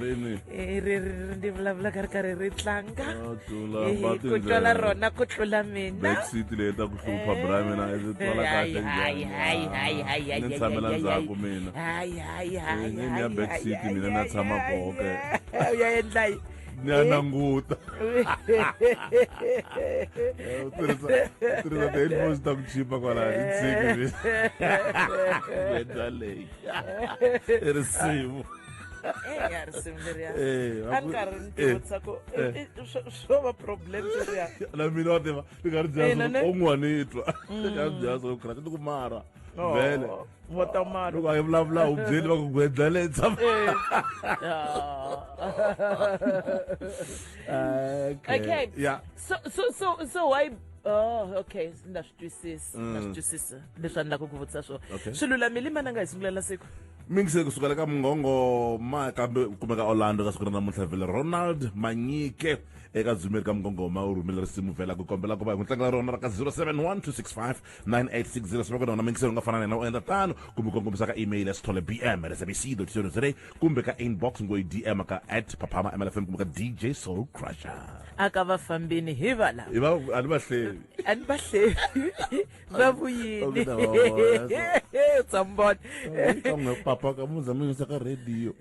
ri ni Eh, ri ri ri ndi vulavula ka ri karhi ri tlanga Ah, tlula Eh, ba ku twala tindlela. rona ku tlula mina backseat leyi ta ku hlupha bra mina ndzi twala kahle njhani Ah, ni tshamela ndzhaku mina Eh, ni ni ya backseat mina na tshama koho ke u ya endla yi ni ya nanguta Eh, u tirhisa u tirhisa ti-headphones ta ku chipa kwalaya ni tshiki mina Beda leyi i risimu Eh, ya ri simu leriya Eh, a ni karhi ni eh, tivutisa ku eh. i- i- swo- swo va problem sweswiya na mina wa tiva ni nga ri Ina, dyaso ne? un'wani i twa ni nga ri dyaso u khirati ni ku mara vele Oh, vo ta mara loko a yi vulavula u byeli va ku gwedla leyi tshama Eh. Ah. okay ya so so so so why Oh, okay ndza swi twisisa ndza swi twisisa leswi a ni lava ku ku vutisa swona Mm. Okay. swi lulamile mana nga hi sungulela siku mingise kusukela ka mungongo ma kambe u kumeka orlando ka siku ra namuntlha vhele ronald manyike eka dzumeri ka mugongoma u rhumile risimu vhela ku kombela ku va hi n'wi tlangela rona ra ka 0712659860 sivaka nona mingise u nga fana na yena u endla tano kumbe kongomisa ka email ya sithole bm at sabc co za kumbe ka inbox ngoyi dm ka at phaphama mlfm kumbe ka dj soul crusher aka vafambini hi vala i va a ni va hleli a ni va hleli za ku yini u tsambona kambe papa ka mu zama yisa ka radio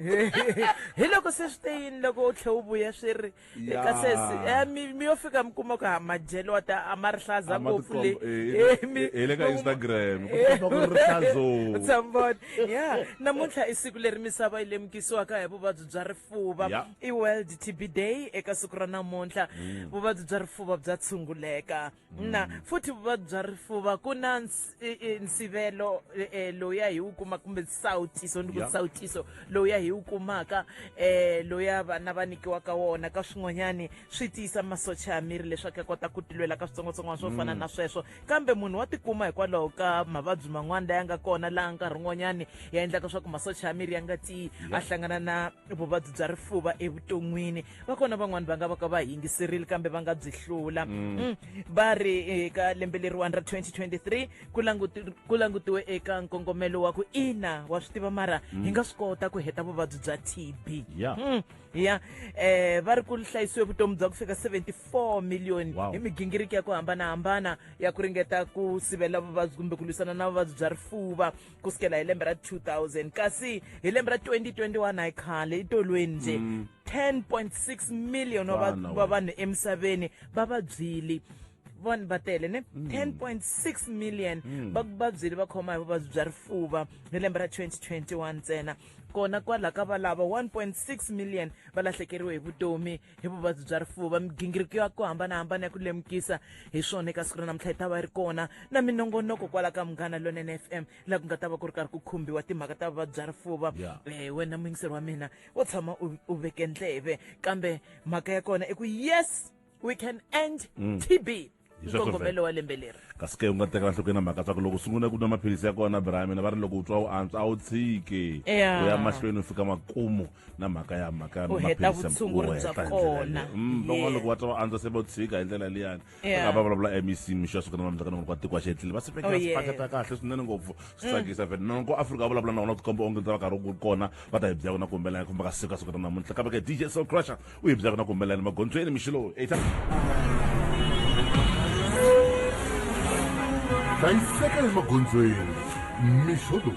hi loko se swi te yini loko u tlhe u vuya swi ri ka sesi eh, mi yo fika mi kuma ku ha madyelo wa ta a ma ri hlaza ngopfu le eh, eh, hi le ka instagram u tsambona ya namuntlha i siku leri misava yi lemukisiwaka hi vuvabyi bya rifuva i world tb day eka siku ra namuntlha mm. vuvabyi bya rifuva bya tshunguleka na mm. futhi vuvabyi bya rifuva ku na nsivelo e, e, loya hi wu kuma kumbe nsawutiso ni ku nsawutiso loya hi wu kumaka um loya vana va nyikiwaka wona ka swin'wanyani swi tiyisa masocha ya miri leswaku ya kota ku tilwela ka switsongwatsongwana swo fana mm. na sweswo kambe munhu wa tikuma hikwalaho ka mavabyi man'wana laya nga kona laha nkarhi wun'wanyani ya endlaka swa ku masocha ya miri ya nga tiyi a hlangana na vuvabyi bya rifuva evuton'wini va kona van'wani va nga va ka va yingiserile kambe va nga byi hlula mm. Mm. va ri eka lembe leriwani ra 2023 ku langutiwe eka nkongomelo wa ku ina wa swi tiva mara mm. hi nga swi kota ku heta vuvabyi bya tb ya um va ri ku hlayisiwe vutomi bya ku fika 74 miliyoni hi migingiriki ya ku hambanahambana ya ku ringeta ku sivela vuvabyi kumbe ku lwisana na vuvabyi bya rifuva ku sukela hi lembe ra 2000 kasi hi lembe ra 2021 hayi khale itolweni nje 10.6 mm. million wa Vana va- wa vanhu emisaveni va vabyili vanhu va tele ne 10.6 million va vabyili va khoma hi vuvabyi bya rifuva hi lembe ra 2021 ntsena kona kwalaho ka valava 1.6 million va lahlekeriwe hi vutomi hi vuvabyi bya rifuva migingiriko ya ku hambanahambana ya ku lemukisa hi swona eka siku ra namuntlha yi ta va ri kona na minongonoko kwala ka munghana lonene f m laha ku nga ta va ku ri karhi ku khumbiwa timhaka ta vuvabyi bya rifuva Yeah. eh wena muyingiseri wa mina wo tshama u u veke ndleve kambe mhaka ya kona i ku yes we can end tb nkongomelo wa lembe leri kasi ke u nga tekela nhlokweni na mhaka swa ku loko u sungula ku nwa maphilisi ya kona brahimina va ri loko u twa u antswa a wu tshiki u ya mahlweni u fika makumu na mhaka ya mhaka ya maphilisiuhetandlelalevan'wana mm, loko va twa va antswa se va tshika hi ndlela liyani aka va vulavula mec mixo ya sukana mamhlaka nongo kwa tiko a xetlile va sipekela oh, sipaketa kahle swinene ngopfu swi mm. tsakisa vhele nongo afrika va vulavula na vona tikomba onge ndza va karhi u kona va ta hi byakona kumbe la ya kumbe ka siku a sukana namunhla kambe ke dj so crusher u hi byaka na ku humelela ni magondzweni mixilo eita hlayiseka ni magondzweni mixolo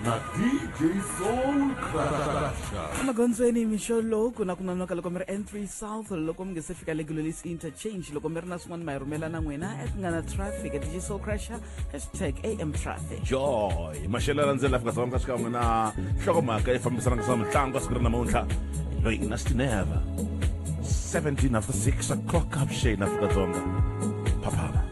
na dj soul crasha emagondzweni mixo lowu ku na ku nonoka loko mi ri n3 south loko mi nge se fika le gololis interchange loko mi ri na swin'wana ma hi rhumela na n'wina at nga na traffic at dj soul crasher hashtag am traffic joy maxelo landzela fika sa vanka xikan'we na nhlokomhaka yi fambisanaka sa mitlangu a siku ri namuntlha loyi i nasty neva 17 after 6 o'clock avuxeni afrika-dzonga phaphama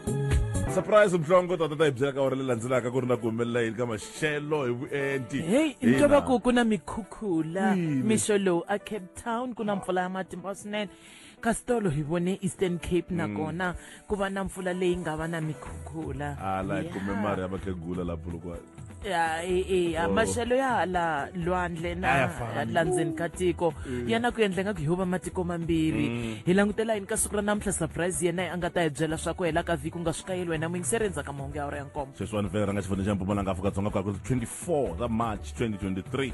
surprise mhlongo tata ta hi byela ka ora leyi landzelaka ku ri na ku humelela yini ka maxelo hi vuenti heyi ni twa va ku ku na mikhukhula mixo lowu a cape town ku na mpfula ya matimba swinene kasi tolo hi vone eastern cape nakona ku va na mpfula leyi nga va na mikhukhula hala hi kume mari ya vakhegula la bulukwana ya e- e- ya, Oh. maxelo ya hala lwandle na A ya fani. la ndzeni ka tiko ya na ku endla nga ku hi va matiko mambirhi hi langutela yini ka siku ra namuntlha surprise yena a nga ta hi byela swa ku hela ka vhiki u nga swi kayeli wena muyingiseri endzhaku ka mahungu ya wura ya nkombo sweswiwani vhele ra nga xifundzeni xa mpumalanga afrika-dzonga ku ya ku 24 ra march 2023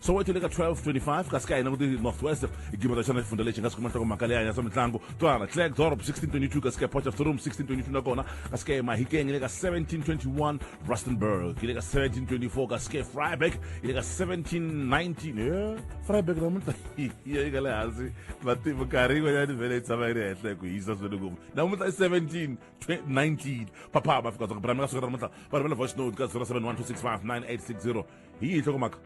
soweto yi le ka 1225 kasi ka hina ku ti northwest gibata xana xifundza lexi nga swi kuma nhloko mhaka leyi hanyasa mitlangu twana clag dorob 1622 kasi ka port of the room 1622 nakona kasi ka mahikeng yi le ka 1721 rustenburg yi le ka 1724 kasi ka freiburg yi le ka 1719 e freiburg namuntlha yi yi ka le hansi vativi nkarhi yin'wanyana yi vele yi tshama yi ri henhla hi ku hisa swinene ngopfu namuntlha i 17 19 papa va fika dzonga brameka siku ra namuntlha va rivele voice note ka 0712659860 hi yihi nhlokomhaka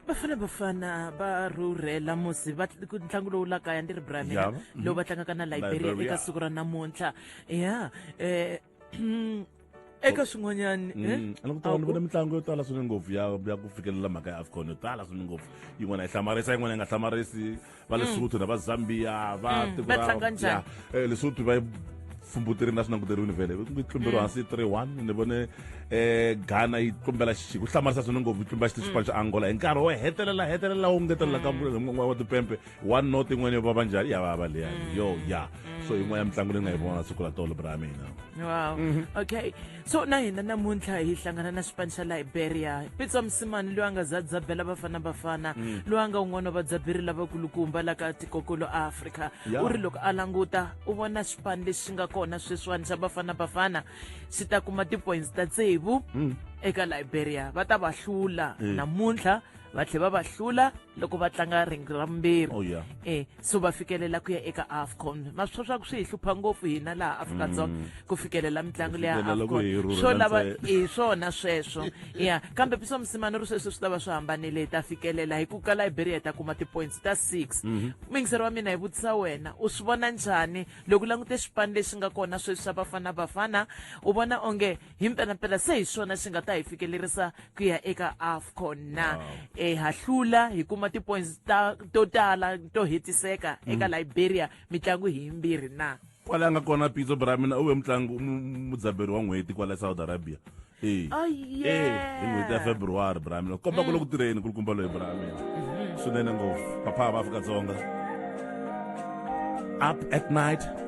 bafana bafana va rhurhela musi va ku ntlangu lowu la kaya ndi ri bramina Yeah. lowu va tlangaka na liberia Liberia. eka siku ra namuntlha ya um eka swin'wanyani eh? Mm, a ni ku tala ni vona mitlangu yo tala swinene ngopfu ya ya ku fikelela mhaka ya afcon yo tala swinene ngopfu yin'wana yi hlamarisa yin'wana yi nga hlamarisi va mm. lesotho na va zambia va mm, tiko ra eh, lesotho va fumbuteri na swi languteriwini vhele yi tlumberiwa hansi three one ni vone um ghana yi tlumbela xixi ku hlamarisa swona ngopfu yi tlumbela xiti xipano xa angola hi nkarhi wo hetelela hetelela wu ngetelela ka n'wana wa tipempe one not yin'wana yo vava njhani ya vava leyani yo ya so yin'wana ya mitlangu leyi nga yi vona siku la tolo bra mina wow mhm. okay so na hina namuntlha hi hlangana na xipano xa liberia pitsa musimani loyi a nga za dzabela bafana bafana mm. loyi a nga un'wana wa vadzaberi lavakulukumba la ka tikokolo afrika u ri loko a languta u vona xipano lexi xi nga kona sweswiwani xa bafana bafana xi ta kuma ti-points ta tsevu mm. eka liberia va ta va hlula mm. namuntlha va tlhe va va hlula loko va tlanga ringi ra vumbirhi oh, e so va fikelela ku ya eka afcon ma swi swa ku swi hi hlupha ngopfu hina laha afrika-dzonga mm. ku fikelela mitlangu leya afcon swo lava hi swona sweswo ya kambe piso musimani ri sweswi swi ta va swi hambanile hi ta fikelela hi ku ka liberia hi ta kuma ti-points ta six mhm. mingiseri wa mina hi vutisa wena u swi vona njhani loko langute xipani lexi nga kona sweswi xa bafana bafana u vona onge hi mpelampela se hi swona swi nga ta hi fikelerisa ku ya eka afcon na e ha hlula hi kuma ti-points ta to tala to hetiseka eka mm. liberia mitlangu hi yimbirhi na kwala a nga kona pitso bra mina u ve mutlangi mudzaberi wa n'hweti kwala south arabia e oh, hi n'hweti ya february bra mina komba ku le ku mm. tirheni kulukumba loyi bra mina mm-hmm. swinene ngopfu papa va afrika-dzonga up at night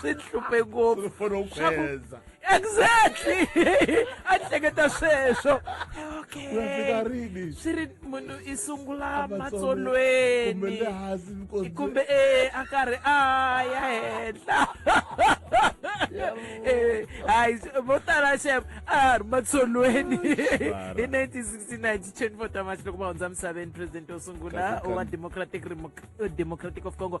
swi ni hluphe ngopfu Swaku- exactly a ni hleketa sweswo okay Unafika rini? swi ri munhu i sungula Kumbe matsolweni le hansi nkosi. kumbe e a karhi a ya henhla Eh, hayi vo tala xem a ha ri matsolweni hi 1969 ti 24 ta march loko va hundza misaveni president wo sungula Kahle, kahle. wa democratic Remo- democratic of congo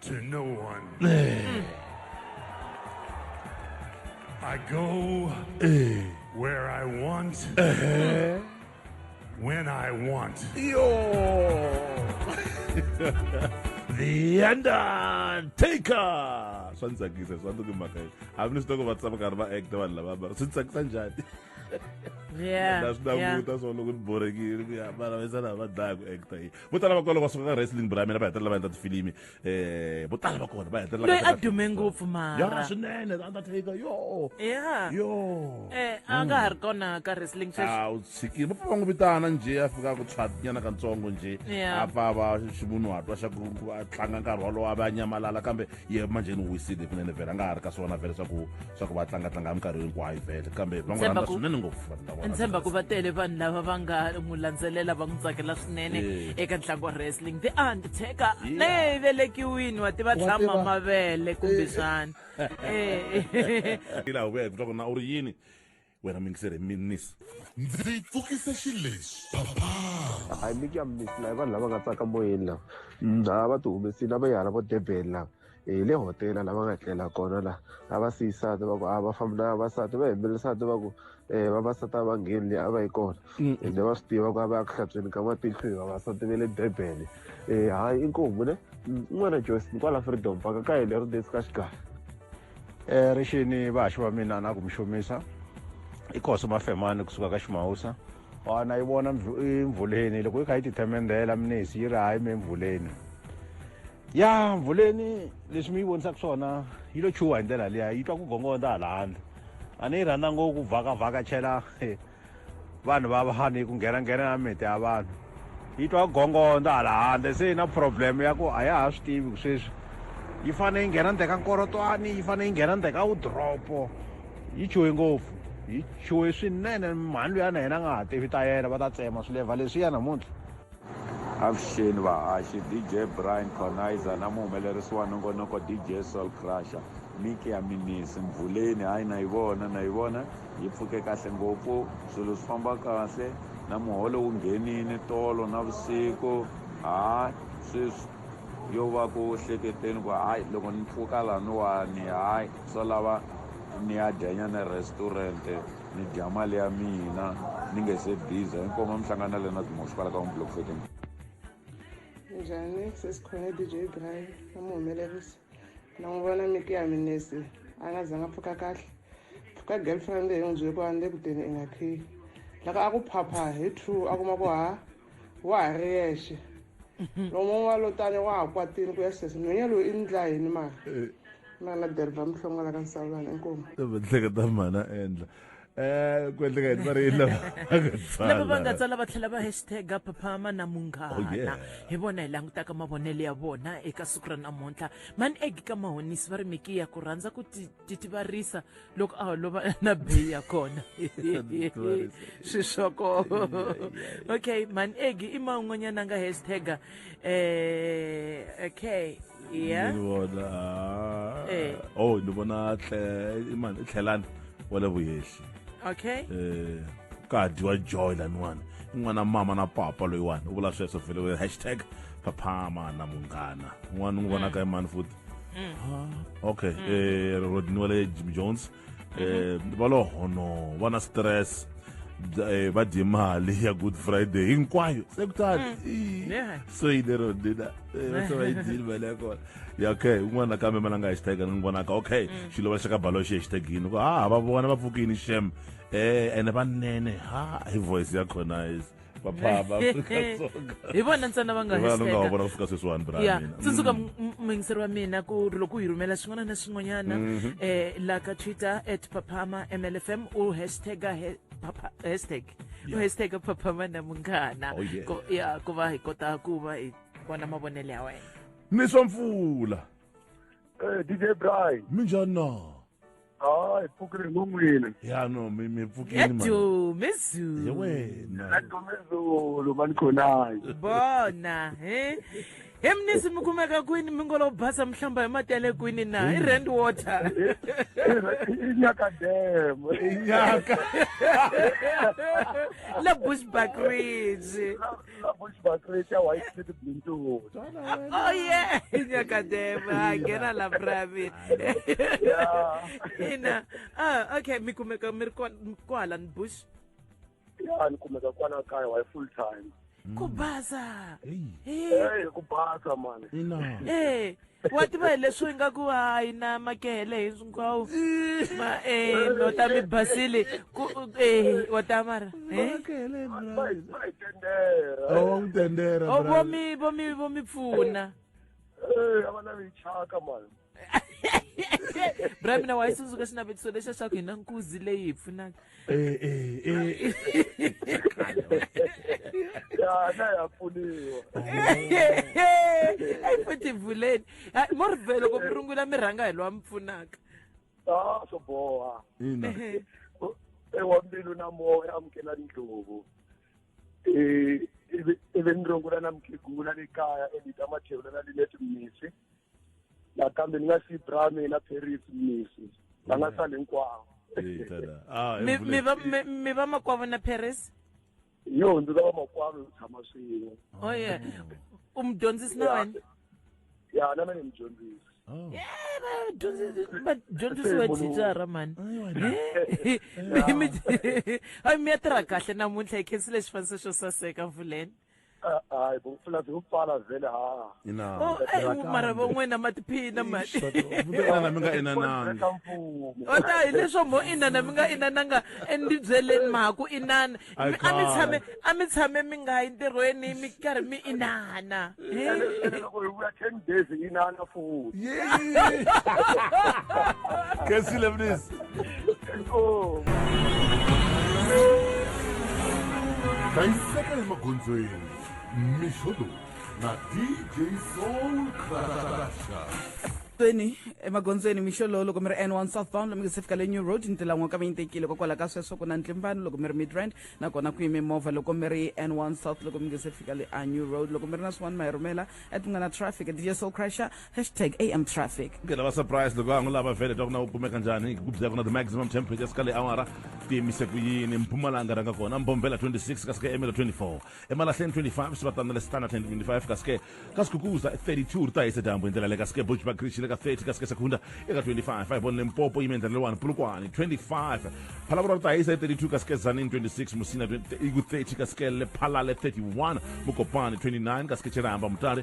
to no one. Hmm. I go where I want, uh-huh. when I want. the Undertaker. Swa ndtsakisa, swa ndzi mhaka yi. A ni swi tiva ku va tsama karhi va act vanhu lava va swi tsakisa njhani. Yeah. Na swi languta swa loko ni borekile ku ya mara va sala va dlaya ku act yi. vo tala va kona loko va suka ka wrestling bra mina va hetelela va endla tifilimi um vo tala va kona va hetelela loyi a dume ngopfu mara swinene undertaker yo ya yo eh a nga ha ri kona ka wrestling sweswi a u tshikile va pfa va n'wi vitana njhe a fika ku tshwatinyana katsongo njhe a pfa va ximunhu hatwa xa ku a tlanga nkarhi wolowo a va a nyamalala kambe ye manje ni wisile kunene vhele a nga ha ri ka swona vhele swa ku swa ku va tlangatlanga hi minkarhi hinkwayo vhele kambe va n'wi rhandza swinene ngopfu vanhu lava ndzi tshemba ku va tele vanhu lava va nga n'wi landzelela va n'wi tsakela swinene eka ntlangu wa wrestling the undertaker leyi velekiwini wa tiva tlhama mavele kumbe xana eh. ila hu ku swa ku na u ri yini wena muyingiseri hi minis ndzi pfukise xilexi papa i make ya minis la vanhu lava nga tsaka moyeni lava mdza va ti humesini lava yi hala vo durban lava hi le hotela lava nga tlela kona la a va siyisati va ku a va fambi na vavasati va hembelisati va ku um vavasati a va ngheni leyi a va yi kona ende va swi tiva ku a va ya ku hlantsweni ka matihlo hi vavasati va le durban um hayi inkomu ne un'wana joyce kwala freedom paka ka hi lero desi ka xigaya Eh, rixini vahaxi va mina na ku mi xomisa i khoso mafemani kusuka ka ximawusa wana yi vona emvuleni loko yi kha yi tithemendhela minisi yi ri hayi mi emvuleni ya mvuleni leswi mi yi vonisaka swona yi lo chuha hi ndlela liya yi twa ku gongondza hala handle a ni yi rhandza ngopfu vhakavhakachela vanhu va vanhu yi ku nghena nghena na miti ya vanhu yi twa gongondo hala handle se yi na problem ya ku a ya ha swi tivi ku sweswi yi fanele yi nghena ndzhe ka nkorotwani yi fanele yi nghena ndzhe ka wudropo yi chuhe ngopfu yi chuhe swinene mhani luyana yena a nga ha tivi ta yena va ta tsema swilevha leswiya namuntlha Avuxeni vahaxi DJ Brian Khonaiza na muhumelerisi wa nongonoko DJ Soul Crusher miki ya minisi mvuleni hayi na yi vona na yi vona yi pfuke kahle ngopfu swilo swi famba kahle na muholo wu nghenini tolo na vusiku hayi sweswi yo va ku hleketeni ku hayi loko ni pfuka laniwani hayi swo lava ni ya dyanyana restaurant ni dya mali ya mina ni nge se biza inkomo mi hlangana le na dimo xipala ka unblock fetting njhani sesikhona dj brian na mu humelerisa na n'wi vona miti ya minesi a nga zanga pfuka kahle pfuka girlfriend hi n'wi byele ku a ni le kuteni i nga khiyi loko a ku phapha hi true a kuma ku ha wa ha ri yexe lomun'we wa lotani wa ha kwatini ku ya sesi nhwenya loyi i ndla yini mara eh. mana derva mihlongola ka nsawulana inkomu vahleketa mana endla eh ku endleka yini va ri yini lava va nga tsala va tlhela va hashtag phaphama na munghana oh, hi vona hi langutaka mavonelo ya vona eka siku ra namuntlha man eg ka mahonisi va ri miki ya ku rhandza ku titivarisa loko a holova na beyi ya kona swi swoko okay man egi i ma un'wanyana nga hashtag eh okay yeah ni vona ah. eh. oh ni vona tle imani tlhelani wale vuyehli okay eh ka dyiwa joy laniwani i n'wana mama na papa loyiwani u vula sweswo vhele hashtag phaphama na munghana n'wana n'wi vonaka imani futhi Mm. Ah, okay mm. eh ro diniwa le Jim Jones mm-hmm. eh ba lo hono ba na stress eh ba di mali ya good friday hinkwayo sekutani mm. so yi lero dina eh, va se va yi dini mali ya kona ya okay un'wana nakambe ma la nga hashtag ni vonaka okay xilo va xaka balo xi hashtag yini ha ah, va vona va pfukini shem eh ene vanene ha hi voice ya khona is vaphama hi vona ntsena va nga vanhu nga vona fika sweswiwani braya tsundzuka muyingiseri wa mina ku ri loko u hi rhumela xin'wana na xin'wanyana um la ka twitter at paphama mlfm u hashtaga hashtag u hashtag paphama na munghana oh, ya ku va hi kota ku va hi vona mavonelo ya wena ni swa mpfula eh, dj bry minjani na Oh, hi pfukile ngomwile. Ya no, mi mi pfukile mani. Yedu, mezulu. Yewena. Yedu mezulu mani khonayi. Bona, eh. He mnisi mi kumeka kwini mi ngo lo basa mihlamba hi mati ya le kwini na i rand water i nyaka dam i nyaka le bushback ridge Ina voice ba create ya white city blinto. Oh yeah, nya ka dema gena la brave. Yeah. Ina. Ah, okay, mi kumeka mi ri kwa- kwala ni bush. Ya ni kumeka kwana kaya wa full time. Ku baza. Hey. Hey, ku basa man. Ina. Eh, wa tiva hi leswi nga ku hayi na makehele hinkwawo ma um u ta mi basile ku um wa ta mara vomi vomi vo mi pfuna bra mina wa yi tsundzuka xinavetiso lexa xa ku hi na nkuzi leyi hi pfunaka Eh, eh, eh. ya na ya pfuniwa ayi futhi vuleni Ha, mo ri vhe loko mi rungula mi rhanga hi lowa mi pfunaka a swo boha ina Ehe. ewa mbilu na moya amukela ndlovu um ivi ni rungula na mukhegula le kaya endita mathevula na lineti mmisi nakambe ni nga siyi bra mina paris misi va nga sali hinkwavo Eh, tada. Ah, mi mi va mi mi va makwavo na paris yo ndzi lava makwavo hi tshama swin'we oh yeah u mi dyondzisi na wena ya na mina ni mudyondzisi Oh. Eh, va dyondzisi- va dyondzisiwe thicara mani Eh, mi- mi- Hayi, mi ya tirha kahle namuntlha hi khensile xifaniso xo saseka mvuleni Ah, hayi bo pfula byi ku pfala vhele ha ina Oh, eh, Tiraka mara hambi. van'wena ma tiphina mali inana mi nga inanangi ka mfumo o ta hi leswo mo inana mi nga inananga endibyeleni mhaku inana Ai, Mi- a mi khale. tshame a mi tshame mi nga yi ntirhweni mi karhi mi inana He? ene ene loko hi vuya ten days inana futhi Yay! Kensile please. Oh. Dayiseka emagondzweni Mishodo na DJ Soul Crusher. tsweni emagondzweni mixolo loko mi ri n1 southbound lomi se fika le new road ndlela n'we ka mi yi tekile kokwalaho ka sweswo ku na ntlimbano loko mi ri midrand nakona ku yime movha loko mi ri n1 south loko mi nge se fika le a new road loko mi ri na swin'wana ma hi rhumela at mi nga na traffic dj soul crusher Hashtag AM traffic. ke lava surprise loko va ngo lava vele twa ku na u kumeka njhani ku byela ku na the maximum temperature sika le awara ti yimise ku yini mpumalanga rhanga kona mbomvela 26 kasi ke emelo 24 emalahleni 25 xivatana le standard 25 kasi ke ka sikukuza 32 ri ta hisa dyambu hi ndlela le kasi ke bushback creech le ka 30 kasi ke sekunda eka 25 hi vona limpopo yime ndlela lewani pulukwani 25 phalavura ri ta hisa hi 32 kasi ke zanini 26 musina iku 30 kasi ke le phalale 31 mukopani 29 kasi ke chiramba mutale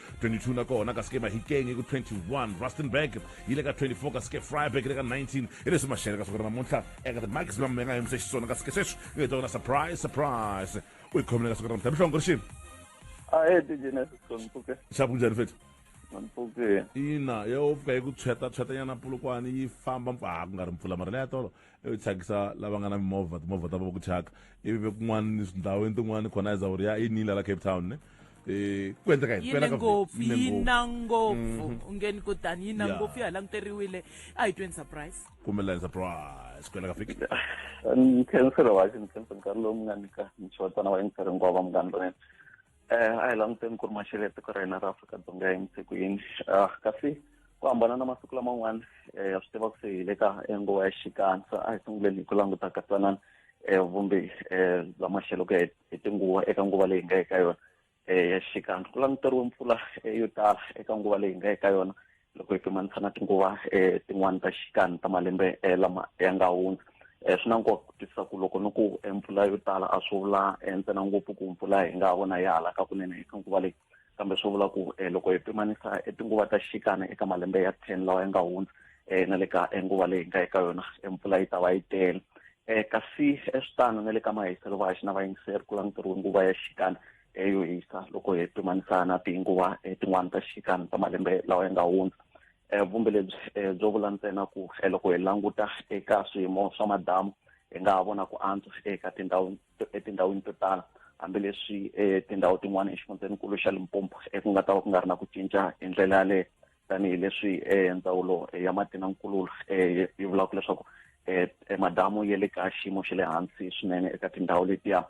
22 na kona kasi ke mahikeng i ku 21 rustenburg yi le ka 24 kasi ke freiburg le ka 19 hi leswi maxele ka swaku namuntlha eka the maximum mi nga yimisa xiswona kasi ke sweswi ku heta wona surprise surprise u yi khomile ka swaku namuntlha mihlongo ri xini xapu njhani fethu ina yo pfuka yi ku tshweta tshwetanyana pulukwani yi famba ha ku nga ri mpfula mara leya tolo yo thyakisa lava nga na mimovha timovha ta va ku thyaka ivi ve kun'wana ni tindhawini tin'wana khona ya zawuri ya inile la cape town ne Eh, ku endleka yi ne ngopfu yi na ngopfu mhm. ungeni ko tani yi na ngopfu ya languteriwile a hi tweni surprise kumelani surprise ku endleka fiki ni khensela wa xi ni khensela nkarhi lowu mi nga nyika ni xotana wa yingiseri hinkwavo munghani lonene eh, a hi languteni ku ri maxelo ya tiko ra hina ra afrika-dzonga ya yimse ku yini ah, kasi ku hambana na masiku laman'wana eh, ya swi tiva ku se hi le ka nguva ya xikandza a hi sunguleni hi ku languta katsanana eh, vumbe bya maxelo ku ya hi tinguva eka nguva leyi nga eka yona ya xikandza ku languteriwe mpfula yo tala eka nguva leyi nga eka yona loko hi pimanisa na tinguva um tin'wani ta xikani ta malembe um lama ya nga hundza um swi na nkoka ku twisisa ku loko ni ku mpfula yo tala a swi vula ntsena ngopfu ku mpfula hi nga vona yi halaka kunene eka nguva leyi kambe swi vula ku um loko hi pimanisa tinguva ta xikana eka malembe ya ten lawa ya nga hundza um na le ka nguva leyi hi nga eka yona mpfula yi ta va yi tele um kasi swi tano na le ka mahiselo va haxi na vayingiseri ku langutiwe nguva ya xikana yo hisa loko hi pimanisa na tinguva eh, tin'wana ta xikana ta malembe lawa ya nga hundza eh, vumbe lebyi eh, byo vula ntsena ku loko hi languta eka swiyimo swa madamu hi nga ha vona ku antswa eka tindhawu etindhawini to tala hambileswi tindhawu tin'wana exifundzeninkulu xa limpompo ku nga ta va ku nga ri na ku cinca hi ndlela yaleyo tanihileswi ndzawulo ya mati na nkululo yi vulaka leswaku madamu ya le ka xiyimo xa le hansi swinene eka tindhawu letiya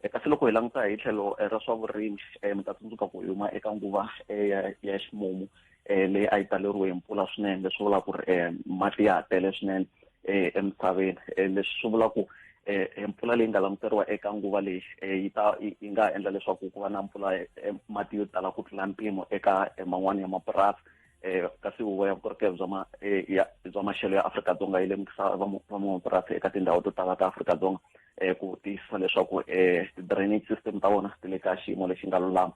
e, kasi loko hi languta hi tlhelo e, ra swa vurimi e, mi ta tsundzuka ku huma eka nguva ya ximumu um leyi a yi taleriwe hi mpfula swinene leswi vulaka ku ri um mati ya ha tele swinene um emisaveni um leswi swi vula ku um mpfula leyi nga languteriwa eka nguva leyi um yi ta yi nga ha endla leswaku ku va na mpfula mati yo tala ku tlula mpimo eka man'wani ya mapurasi eh, kasi huvo ya vukorhokeri bya ma, eh, ya, bya maxelo ya afrika-dzonga yi lemukisa van'wamapurasi eka tindhawu to tala ta afrika-dzonga eh, ku tiyisisa leswaku eh, ti-drainage system ta vona ti le ka xiyimo lexi nga lulama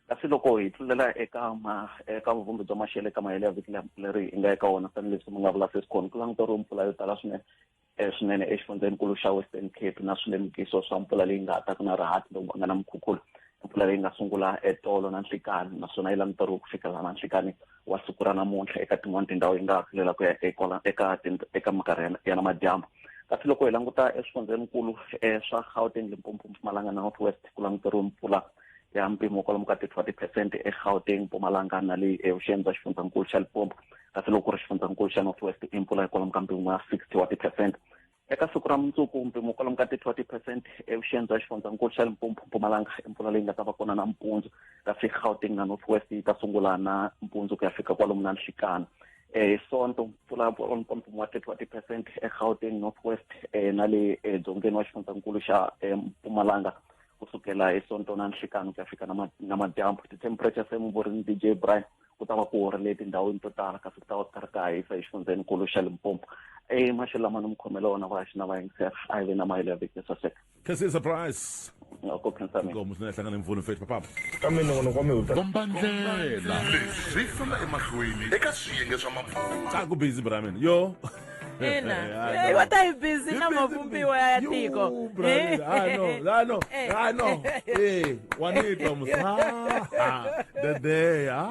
kasi loko hi tlulela eka ma eka vuvumbi bya maxelo eka mahele ya vhiki leri hi nga eka wona tanihileswi mi nga vula sesi kona ku languteriwe mpfula yo tala swinene e swinene exifundzhenikulu xa western cape na swilemukiso swa mpfula leyi nga taka na rihati lowu nga na mukhukhulo mpfula leyi nga sungula etolo na nhlikani naswona yi languteriwe ku fikela na nhlikani wa siku ra namuntlha eka tin'wani tindhawu yi nga ha kulela ku ya eka eka minkarhi ya na madyambu kasi loko hi languta eswifundzhenikulu um swa gauteng limpopo mpumalanga na north west ku languteriwe mpfula ya mpimo kwalomu ka 30 percent egauteng mpumalanga na leyi evuxeni bya xifundzankulu xa lipompo kasi loko ku ri xifundzankulu xa north west i mpfula ya kwalomu ka mpimo ya 60 wa ti-percent eka siku ra mundzuku mpimo kwalomu ka ti-two ti-percent evuxeni bya xifundzankulu xa limpompo mpumalanga i mpfula leyi nga ta va kona nampundzu kasi gauteng na north west yi ta sungula na mpundzu ku ya fika kwalomu na nhlekana eh, hi sonto mpfula ya kwalomu ka mpimo wa thirty wa ti-percent egauteng north west um na le eh, dzongeni wa xifundzankulu xa eh, mpumalanga ku sukela hi sonto na nhlikani ku ya fika na madyambu ti-temperature se muvorini d j brian ku ta va ku horile etindhawini to tala kasi ku ta va ku karhi ka hisa exifundzhenikulu xa limpompo emaxelo lama ni mi khomela wona va xi na va yingisela a yi ve na mahelo ya vhiki yo saseka khensile surprise ko khensa mina ngomu swi nga hlangana mpfuno fethu papapa ka mina n'wana kwa mihuta kombandlela leswi famba emahlweni eka swiyenge swa mapfuna ka ku busy bra mina yo ina Yeah, Eh, no. va ta yi busy na mavumbiwa ya tiko You, brother. Ah, no. Ah, no. Eh. Ah, no. Eh, wanitwa musa. Ah, ah, dede. Ah.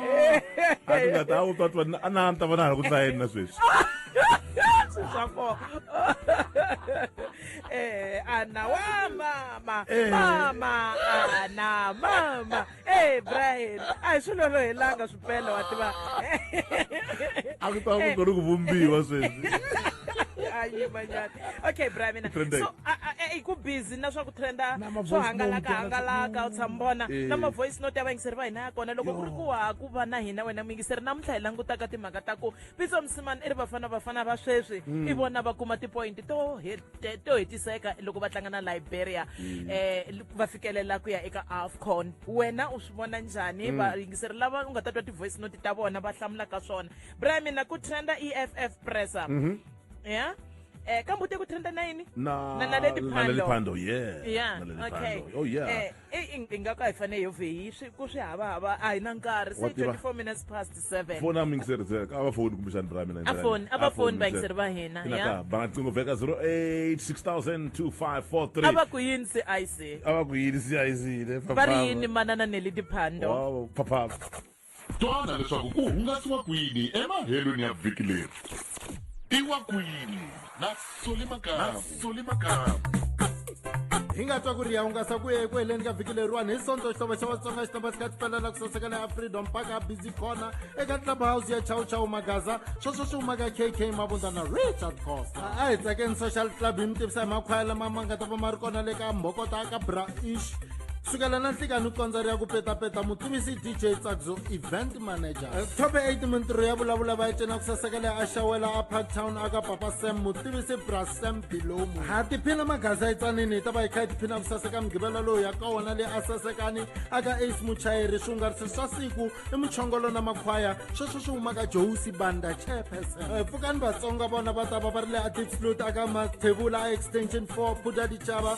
A ti nga ta u twa twa a na ta vona ku tla yena sweswi. swapo eh ana wa mama Eh. mama ana mama Hey Brian, a hi swilo ro helanga swipele wa tiva. A ku ta ku ri ku vumbiwa sweswi. Ayi manyana. Okay Brian mina. So i ku busy na swa ku trenda swo hangalaka hangalaka u tshambona na ma voice note ya vayingiseri va hina ya kona loko ku ri ku ha ku va na hina wena muyingiseri namuntlha hi langutaka timhaka ta ku Pitso Msimani i ri Bafana Bafana va sweswi mm. i vona va kuma tipoyinti to to hetiseka loko va tlanga na Liberia mm. eh va fikelela ku ya eka AFCON wena u swi vona njhani mm. va yingiseri lava u nga ta twa ti voice note ta vona va hlamula ka swona Brian mina ku trenda EFF presser mm-hmm. yeah eh kambe ute ku trenda na yini na na leli phando yeah yeah okay oh yeah eh, eyi i nga ka hi fanele hi vheyi swi ku swi hava hava a hi na nkarhi se 24 minutes past 7 foni a mi yingiseri ze a va foni kumbexani ra mina a foni a va foni va yingiseri va hina ya ba nqingo veka 08 6000 a va ku yini se a yi se a va ku yini se a yi sile va ri yini manana neli diphando wow phapha Twana leswaku ku hungasiwa kwini emahelweni ya vhiki leri. Tiwa kwini na Solly Makamu. Hi nga twa ku ri ya hungasa ku ye eku heleni ka vhiki leriwani hi sonto xithoba xa vatsonga xithoba xi kha xi pfela la ku saseka la ya freedom park ya busy corner eka club house ya chow chow magaza sweswo swi humaka kk mavundza na richard costa a hi tsakeni social club hi mi tivisa hi makhwaya lama ma nga ta va ma ri kona le ka mbhokota ka bra ish sukela na nhlikani kondza ri ya ku petapeta mutivisi dj tsakzo event manager eh, top 8 mintirho ya vulavula va yi cina ku sasekela a xawela a parktown aka papa sam mutivisi bra sam bilomu ha tiphina maghaza etsanini yi ta va yi kha yi tiphina ku saseka mugivela lowu ya ka wona leyi a sasekani aka ace muchayeri swihungarisi swa siku i muchongolo na makhwaya sweswo swi humaka josi banda chairperson eh, pfukani vatsonga vona va ta va va ri le atiflut aka mathevula a extension 4 phuda dichava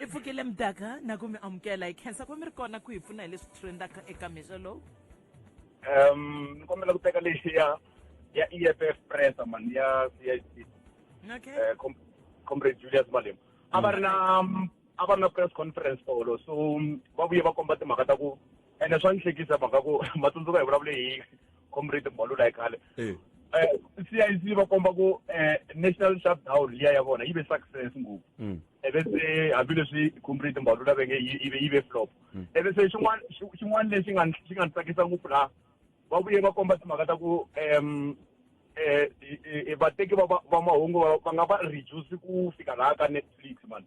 i pfukile mdaka na ku mi amukela hi khensa ku mi ri kona ku hi pfuna hi leswi trendaka eka mixo lowu um ni kombela ku teka lexi ya ya e f f press mani ya c i c okay. Eh, comrade julius malema a va ri na a va ri na press conference tolo so va vuye va komba timhaka ta ku ene swa ni hlekisa mhaka ku matsundzuka hi vulavule hi comrade mbalula hi khale um c i c va komba ku um national shutdown liya ya vona yi ve success ngopfu mm. eve se hambileswi comrade mbalula ve nge yi ve flop mm. eve se xin'wana xin'wana lexi nga xi nga ni tsakisa ngopfu laha va vuye va komba timhaka ta ku um um vateki va va mahungu va nga va reduce ku fika laha ka netflix mani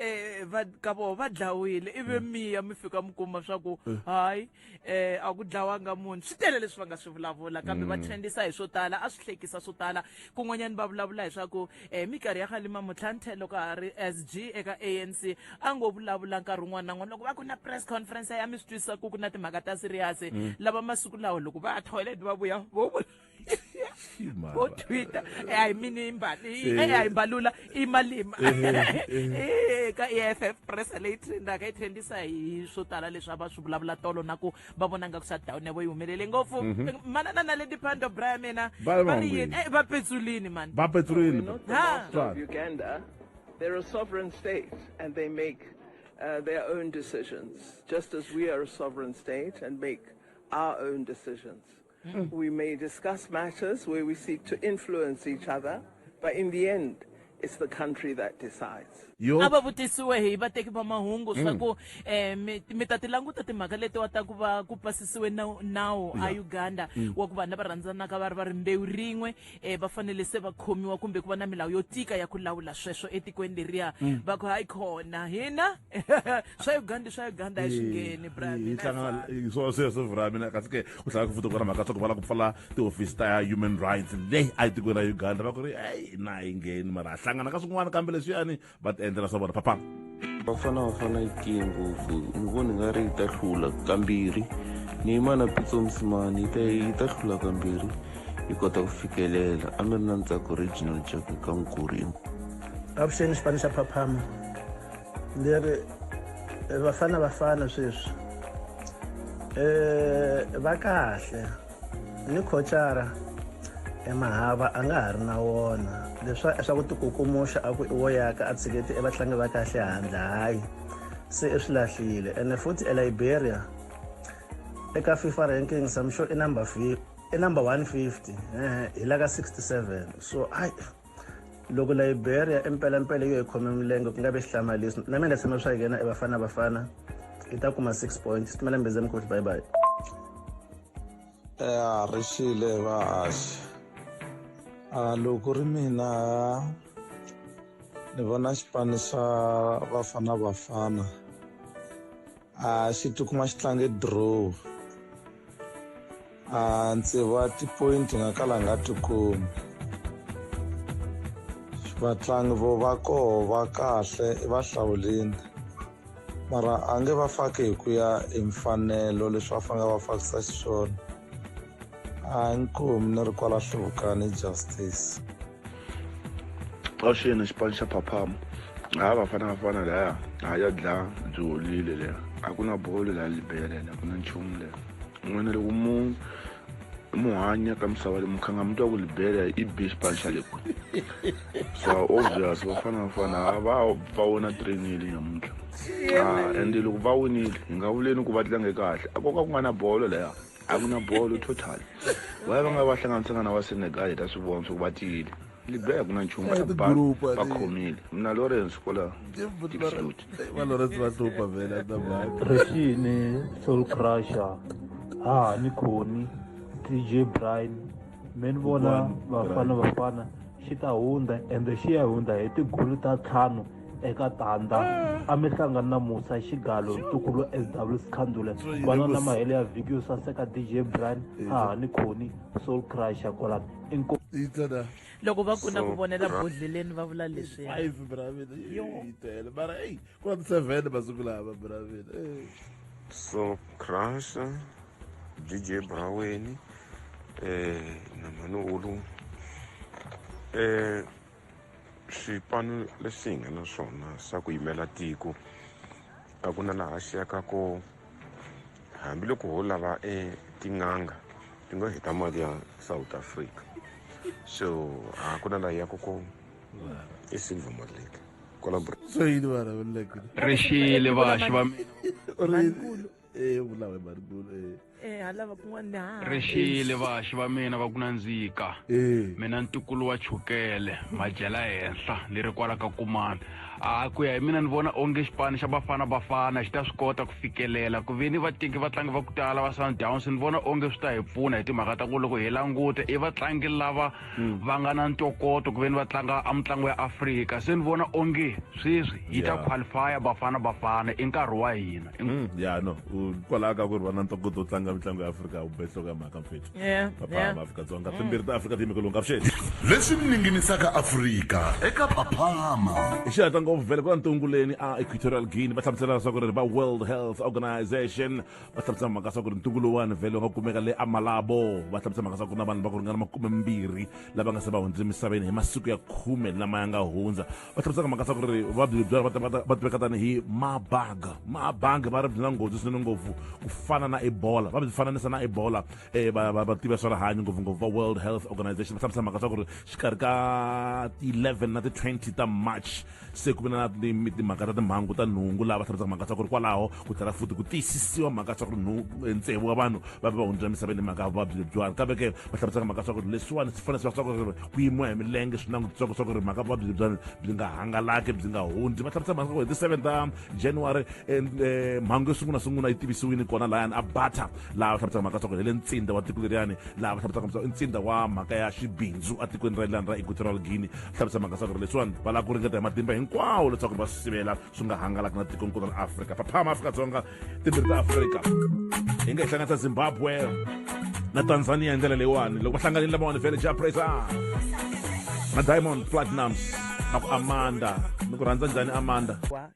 eh va ka vo va dlawile ivi mm. miya mi fika mi kuma swa ku mm. hayi eh a ku dlawanga munhu swi tele leswi va nga swi vulavula kambe va mm. trendisa hi swo tala a swi hlekisa swo tala kun'wanyani va vulavula hi swa ku eh mikarhi ya khalima mutlhantlhe loko a ri SG eka ANC a ngo vulavula nkarhi wun'wana na n'wana loko va ku na press conference ya mi swi twisisa ku ku na timhaka ta serious lava masiku lawa loko va ya toilet va vuya vo bo twitter ai mini imbali eh. ai mbalula imalima eh, eh. ka EFF press leyi trendaka yi trendisa hi swo tala leswi a va swi vulavula tolo na ku va vona nga ku shutdown ya vo yi humelele ngopfu mhm. manana na lady pando bra ya mina va ri yini va petsulini mani va petsulini Uganda they're a sovereign state and they make uh, their own decisions just as we are a sovereign state and make our own decisions Mm. We may discuss matters where we seek to influence each other, but in the end, it's the country that decides. a va vutisiwe hi vateki va mahungu swa mm. ku um mi ta ti languta timhaka letiwa ta ku va ku pasisiwe nawu a uganda mm. wa ku vanhu lava rhandzanaka va ri va ri mbewu rin'we um va fanele se va khomiwa kumbe ku va na milawu yo tika ya ku lawula sweswo etikweni leriya mm. va ku hayi khona hina swa uganda swa uganda a swi ngheni braminaswo sweswo vra mina kasi ke ku tlhela ku futa ku na mhaka swa ku va la ku pfala tihofisi ta human rights leyi a yi tikweni ra uganda va ku ri eyi na yi ngheni mara a hlangana ka swin'wana kambe leswiyani va ti endlela swa vona papa vafana vafana yi tiye ngopfu ni voni nga ri yi ta hlula kambirhi ni yimana pitso musimani yi ta yi ta hlula kambirhi yi kota ku fikelela a mi ri na ntsako regional jack ka nkuri avuxeni xipano xa phaphama leri vafana vafana sweswi um va kahle Ni khocara emahava a nga ha ri na wona leswa swa ku tikukumuxa a ku i wo yaka a tshiketi evatlangi va kahle handle hayi se i swi lahlile ene futhi eliberia eka fifa ranking samsho i number i number 150 hi la ka 67 so ai loko liberia impelampela yo hi khome milenge ku nga ve xihlamalisi na mina tshama swa yena evafana vafana i ta kuma six points switimela mbeze mikosi bye bye ya ri xile vahaxi a ah, loko ri mina ni vona xipano xa bafana bafana a xi tikuma xi tlange draw a ndzi va tipoyinti nga kala nga tikumi vatlangi vo va koho va kahle i va hlawulini mara a nge va faki hi ku ya hi mfanelo leswi va fanele va fakisa xiswona hayi nkomi ni ri kwala hluvukani justice avuxeni xipano xa phaphama ha vafana vafana laya ha ya dlaya byi holile leya a ku na bolo laya libele a ku na nchumu leya n'wina loko mu mu hanya ka misava leyi mukhanga mi twa ku libele i be xipano xa leku so obvious vafana vafana ha va va wona trainile nyamuntlha ha ende loko va winile hi nga vuleni ku va tlange kahle a koka ku nga na bolo laya a ku na bolo total va ya va nga va hlanganisanga na va senegal hi ta swi vona swa ku va tiyile libya a ku na nchumu Eh, ba ti-group, ba- va ti- khomile mina lawrence kwala tipsuti valoresi va hlupha vhela ta mhaka Rexini, Soul Crusher, Hahani Khoni, DJ Brian, mi ni vona vafana vafana xi ta hundza ende xi ya hundza hi tigulu ta ntlhanu eka tandza ah. a mi hlangani na musa xigalo ntukulu sw sikhandule vana na mahele ya vhiki yo saseka dj brian hahani khoni soul crusher kwalani inko loko va ku na ku vonela bodleleni va vula leswi five bravile yi tele mara eyi ku na ti-seven masiku lava bravile so crusher DJ Braweni eh na Manolu eh xipano lexi hi nga na swona xa ku yimela tiko a ku na laha xi yaka ko hambiloko ho lava e tin'anga ti nga heta mali ya south africa so a ku na laha yaka ko i silver malake kwala rixile vaxi va mina e vulawe marikulu e eh halava kun'wana ni ha rixile vaxi va mina va ku nandzika e mina ntukulu wa chukele madyela henhla ni ri kwala ka kumana a ku ya hi mina ni vona onge xipano xa bafana bafana xi ta swi kota ku fikelela ku ve ni vateki vatlangi va ku tala va sundowns ni vona onge swi ta hi pfuna hi timhaka ta ku loko hi languta i vatlangi lava mm. va nga na ntokoto ku ve ni va tlanga a mitlangu ya afrika se ni vona onge sweswi yi ta qualifya bafana bafana i nkarhi wa hina mm, ya no kwalaho ka ku ri va na ntokoto wo tlanga mitlangu ya afrika ubehlo ka mhaka mfethu papa maafrika-dzonga mm. timbirhi ta afrika tiyimikelonga vuxeni leswi ninginisaka afrika eka paphama i xihatla ngopfu vhele ku va ntunguleni a equatorial guinea va hlamusela leswaku ri va world health organization va hlamusela mhaka swa ku ri ntungu lowuwani vhele va kumeka le amalabo va hlamusela mhaka swa ku na vanhu va ku ringana makume mbirhi lava nga se va hundzile emisaveni hi masiku ya khume lama ya nga hundza va hlamusela mhaka swa ku ri vuvabyi lebyi va tiveka tanihi mabaga mabaga va ri byi na nghozi swinene ngopfu ku fana na ebola va byi fananisa na ebola um va tiva swa rihanyo ngopfungopfu va world health organization va hlamusela mhaka swa ku ri xikarhi ka ti-11 na ti-20 ta march se ku ve na timhaka ta timhangu ta nhungu laha va hlamusaka mhaka swa ku ri kwalaho ku tlhela futi ku tiyisisiwa mhaka swa ku ri eh, ntsevu wa vanhu va ve va hundzula emisaveni hi mhaka ya vuvabyi lebyiwani kambe ke va hlamusaka mhaka swa ku ri leswiwani swi fanele swi va swa ku ri ku yimiwa hi milenge swi langutisaka swa ku ri mhaka vuvabyi lebyiwani byi nga hangalaki byi nga hundzi va hlamusaka mhaka ku hi ti-seven ta january eh, eh, mhangu yo sungula sungula yi tivisiwile kona layani a bata laha va hlamusaka mhaka leswaku hi le ntsinda wa tiko leriyani laha va hlamusaka leswaku i ntsinda wa mhaka ya xibindzu etikweni ra lani ra equatorial guinea hlamusa mhaka leswaku leswiwani va lava ku ringeta hi matimba hinkwawo leswaku va swi sivela swi nga hangalaki na tiko nkulu ra afrika phaphama afrika-dzonga timbirhi ta afrika hi nga hi hlanganisa zimbabwe na tanzania hi ndlela leyiwani loko va hlanganile lamawani vele ja praiser na diamond platinums na ku amanda ni ku rhandza njhani amanda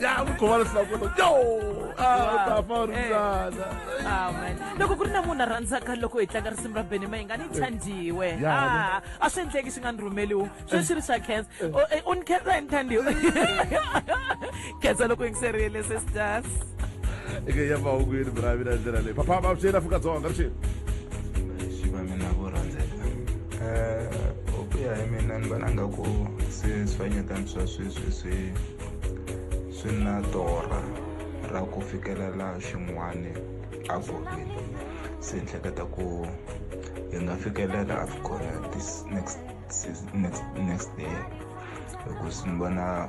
ya vukhomana sinakona yo a u ta fa u ri Eh. mbyana amen loko ku ri na munhu a rhandzaka loko hi tlanga risimu ra beni mayinga ni thandiwe Ya, Ah, a swi endleki swi nga ni rhumeliwi sweswi ri swa cancer unikhetha hi ni thandiwe khensa loko yingiserile sisters eke ya mahungwini bra mina ndlela leyi papa va swi yena afrika dzonga ri xini swi va mina vo rhandzeka um ku ya hi mina ni vona nga ku se swifanyetani swa sweswi swi swi na torha ra ku fikelela xin'wani avokweni se ni hleketa ku hi nga fikelela avcon this next next next day hikuva ni vona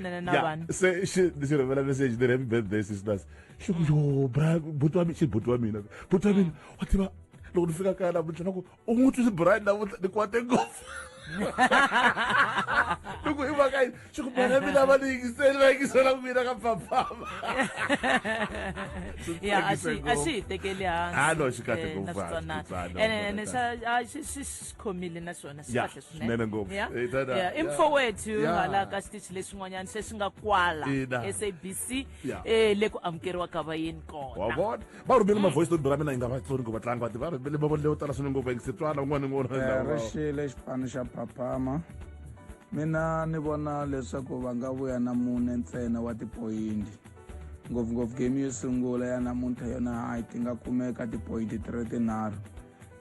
nene na vanhu yeah. se xi xi rhumela message ni ri happy birthday sisters xi ku yo bra buti wa mina xi buti wa mina buti wa mina wa tiva loko ni fika kaya namuntlha na ku u n'wi twisi brian namuntlha ni kwate ngopfu loko i mhaka yini swi ku mina mina va ni yingiseli va yingisela ku mina ka pfapfava ya a xi a xi hi tekeli hansi a no xi kahle eh, ngopfu ene ene xa xi khomile na swona swi kahle swinene ngopfu i mfowethu hala ka xitichi lexin'wanyana se xi nga kwala sabc um le ku amukeriwa ka vayeni kona vona va rhumele mm. mavoice note ra mina yi nga vatsoni ku vatlangi vati va rhumele mavonelo yo tala swinene ngopfu engisitwana un'wana ni un'wana ri xile xipano xa phaphama mina ni vona leswaku va nga vuya na mune ntsena wa tipoyinti ngopfungopfu game yo sungula ya namuntlha yona hayi ti nga kumeka tipoyinti ti ri tinharhu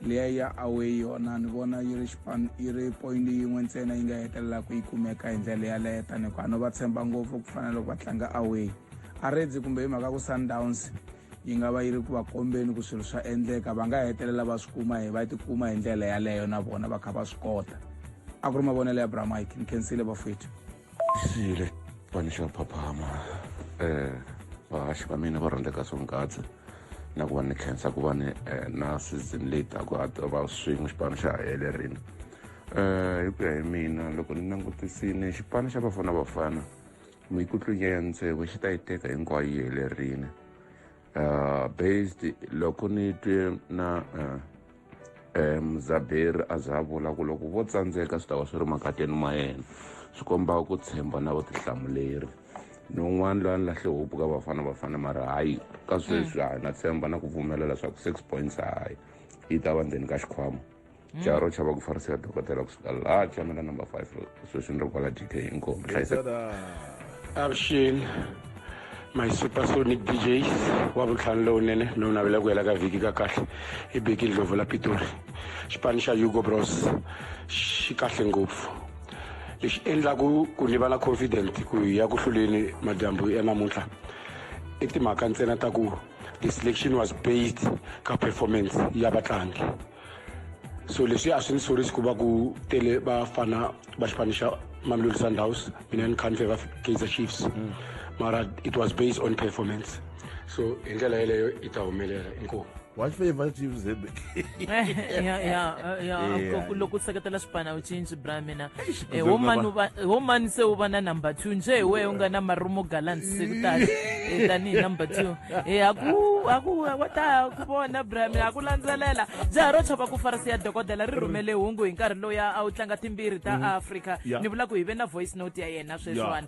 leya ya away yona ni vona yi ri xipano yi ri point yin'we ntsena yi nga hetelelaka yi kumeka hi ndlela yaleyo tani hikuva no va tshemba ngopfu ku fana loko va tlanga away a redzi kumbe hi mhaka ku sundowns yi nga va yi ri ku va kombeni ku swilo swa endleka va nga hetelela va swi kuma hi va tikuma hi ndlela yaleyo na vona va kha va swi kota a ku ri mavonelo ya bramike ni khensile vafwethu siyile xipani xa phaphama um vahaxi va mina va rhandzeka swonghadzi na ku va ni khensa ku va ni eh, na season leyi taku a ta va swin'we xipano xa helerini um eh, hi ku ya hi mina loko ni langutisini xipano xa bafana bafana mikutlunya ya ntsevu xi ta yi teka hinkwayo yi helerini uh, based loko ni twe na uh, eh, um muzaberi a za vula ku loko vo tsandzeka swi ta va swi ri makateni ma yena swi komba ku tshemba na vutihlamuleri ni un'wana loyi a ni lahle hopu ka vafana vafana mara hayi ka sweswi hayi na tshemba na ku pfumela leswaku six points hayi yi ta va ndzeni ka xikhwama caro caba ku farisa dokotela kusukala chamela number five sweswi ni ri kwala dk inkomi hlayiseka avuxini my supersonic djs wa vutlhanu lowunene lowu navela ku hela ka vhiki ka kahle i beki ndlovu la pitori xipano xa hugo bros xi kahle ngopfu lexi endlaku ku ni va na confident ku ya ku hluleni madyambu ya namuntlha i timhaka ntsena ta ku the selection was based ka performance ya vatlangi so leswi a swi ni sorisi ku va ku tele vafana va xipano xa mamelodi sundowns mina ni kha ni favor kaizer chiefs mm. mara it was based on performance so hi ndlela yeleyo yi ta humelela inkomu watch for your chiefs ya ya ya loko u seketela swipana u cinci bra mina Eh, Ndzi wo nga mani va- u va- wo mani se u va na number two nje hi wehe u nga na marumo gallant se ku tani Eh, tanihi number two Eh, haku haku wa ta ku vona brami haku landzelela jaha ro chava ku farisi ya dokodela ri rhumele hungu hi nkarhi loya a wu tlanga timbirhi ta africa Yeah. ni vula ku hi ve na voice note ya yena sweswiwani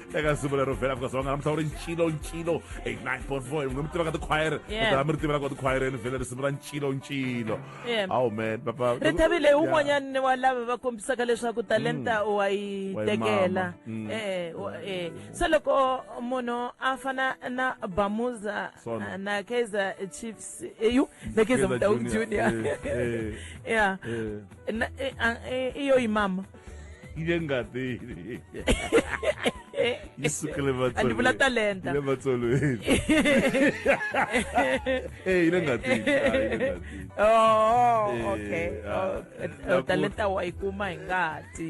eka simu lero vhela afrika dzonga ramutauri ncilo ncilo 89.4 mune mutiva ka tikhwayere a mi ri tivela ka tikhwayereni vhele risimu ra ncilo ncilo awu man papa ri thavile hi un'wanyani wa lava va kombisaka leswaku talenta mm. wa yi tekela mm. e, e, e. se loko munhu a fana na bamuza na kaizer chiefs eyu na kaizer mutau junior ya iyo yi mama yi le ngatini yi sukele a ni vula talenta le matsolweni e yi le ngatini oh okay oh, talenta wa yi kuma hi ngati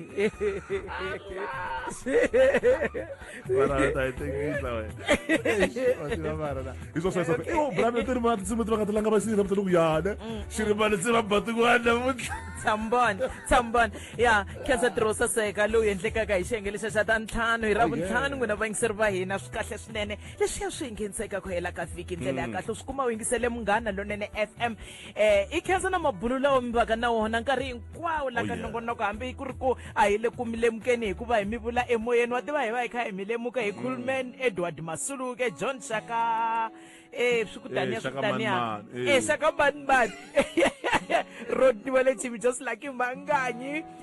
ya khensa tirho saseka lowu endlekaka hi xiyenge lexa xa ta ntlhanu hi ra oh, vuntlhanu n'wina vayingiseri va hina swi kahle swinene leswiya swi hi ngheniseka ku hela ka vhiki ndlela ya mm. kahle swi kuma u yingisele munghana lonene f m eh i khensa na mabulo lawa mi vaka na wona nkarhi hinkwawo la Oh, ka yeah. nongonoko hambi ku ri ku a hi le ku mi lemukeni hikuva hi mi vula emoyeni wa tiva hi va hi kha hi mi lemuka hi khulman edward masuluke john shaka eh swi ku taniya swi ku Shaka taniya Manman, eh. eh shaka manman rodiwa le chibi just like manganyi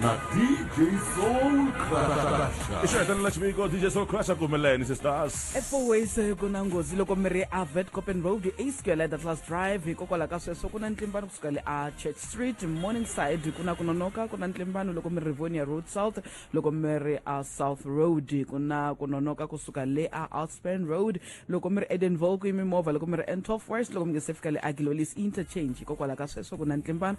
na DJ Soul Crusher. I xiheta ni la xiviko DJ Soul Crusher kumeleni sisters. Efoways ku na nghozi loko mi ri a Vet Copen Road e square at Atlas Drive hikokwalaho ka sweswo ku na ntlimbano kusuka le a Church Street Morningside ku na ku nonoka ku na ntlimbano loko mi ri Rivonia Road South loko mi ri a South Road ku na ku nonoka kusuka le a Alspan Road loko mi ri Edenville ku yi mimovha loko mi ri N12 West loko mi nga se fika le a Gilolis Interchange hikokwalaho ka sweswo ku na ntlimbano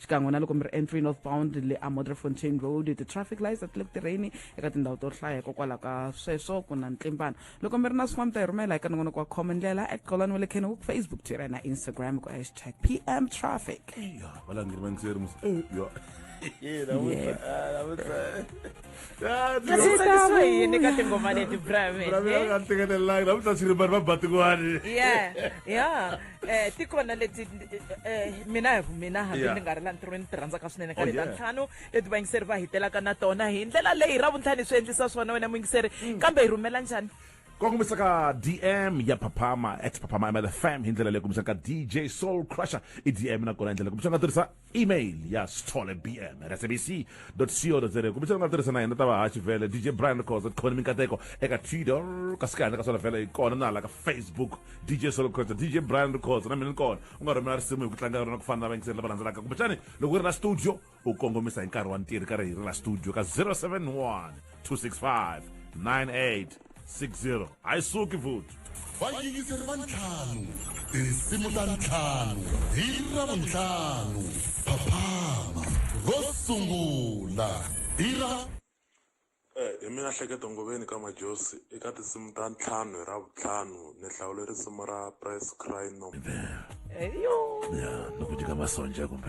xikan'we na loko mi ri entry north bound le a modrefontain road ti-traffic lights a ti le ku tirheni eka tindhawu to hlaya hikokwalaho ka sweswo ku na ntlimbano loko mi ri na swin'wana mi ta yi rhumela eka nongonoko wa khoma ndlela at qolani wa le kenwook facebook twitter na instagram ku hashtag pm traffic ya valangeri va ntseri musi eh, ya Yeah, that was, Yeah. uh, that was, uh, tsakisa yini ka tingoma leti bramenekanteketelelanga na vutasiri vanhu va batikwani ya ya um ti kona leti mina hi mina hambi ni nga ri la ntirhweni ti rhandzaka swinene ka leta ntlhanu leti vayingiseri va hitelaka na tona hi ndlela leyi ra vuntlhani swi endlisa swona wena muyingiseri kambe hi rhumela njhani kongomisa ka dm ya phaphama at phaphama mlfm hi ndlela leyi kumbisaka dj soul crusher i dm nakona hi ndlela kumbisa nga tirhisa email ya sithole bm at sabc co za kumbe xana u nga tirhisa na hina ta vahaxi vhele dj brian khoza tikhona minkateko eka twitter kasi ka handle ka swona vhele hi kona na hala ka facebook dj solo khoza dj brian khoza na mina ni kona u nga rhumela risimu hi ku tlanga rona ku fana na vayingiseri lava landzelaka kumbe xani loko u ri la studio u kongomisa hi nkarhi wa ntirho ka ri hi ri la studio ka 071 265 98 60 a yi suki vuthu vayingiseri va ntlhanu tinsimu ta ntlhanu hi ravuntlhanu phaphama ro sungula hi ra Eh, hi mina hleketo ngoveni ka majosi eka tinsimu ta ntlhanu hi ravuntlhanu ni hlawule risimu ra press cry no Yo. ya nokuti ka masonja kumbe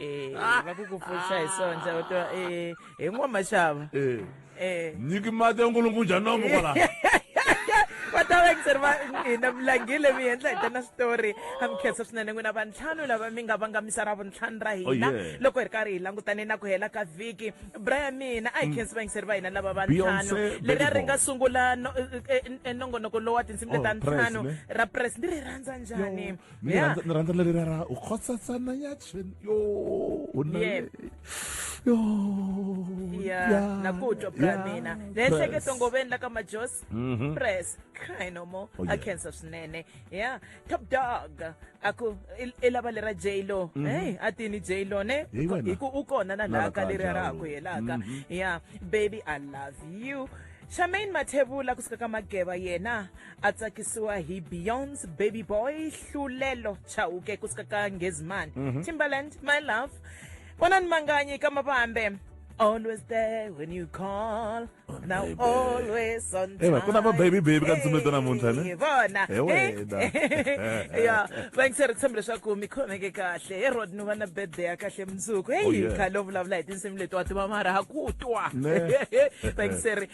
Eh, Ah. va ku ku pfuxa hi sonja u tiva eh, hi n'wamaxava Eh, Eh. nyiki mati ya nkulunkulu njhani nomo kwala va ta va ekuseri va hina mulangile mi endla hi tana switori a mi khensa swinene n'wina vantlhanu lava mi nga vangamisa ra vuntlhanu ra hina Oh, yeah. loko hi ri karhi hi langutane na ku hela ka vhiki bra ya mina a hi khensi vayingiseri va hina lava vantlhanu Beyonce, leri a ri Baby nga Boy. sungula no- eh, eh, eh, nongonoko lowa tinsimu Oh, leta Press, ntlhanu ne? ra press ni ri rhandza njhani ni Yeah. rhandza- ni rhandza leri ra ra u khosatsana ya chen yo u na Yeah. yo ya ya, na ku twa bra ya, mina ni press. ehleketa ngoveni la ka majosi Mhm. press cry no more Oh, a yeah. cancer swinene ya top dog a ku i- i lava lera j lo Mhm. hey a tini j lo ne Hey, wena. hi ku u kona na Na laha ka laka leri ra njalo. ku helaka Mhm. ya baby i love you charmaine mathevula kusuka ka mageva yena a tsakisiwa hi beyonce baby boy hlulelo chauke ku suka ka ngezimani timbaland my love vonani manganyi ka mavambe always there when you call now baby. always on Hey, ma, ku na va baby baby ka ntsumi to namuntlha, ne? Hey, vona Hi wena. Eh, ya va ngiseri ku tshemba leswaku mi khomeke kahle he rod ni va na birthday ya kahle mundzuku Oh, heyi yeah. khale u vulavula hi tinsimu leti wa tiva mara ha ku twa Ne. va ngiseri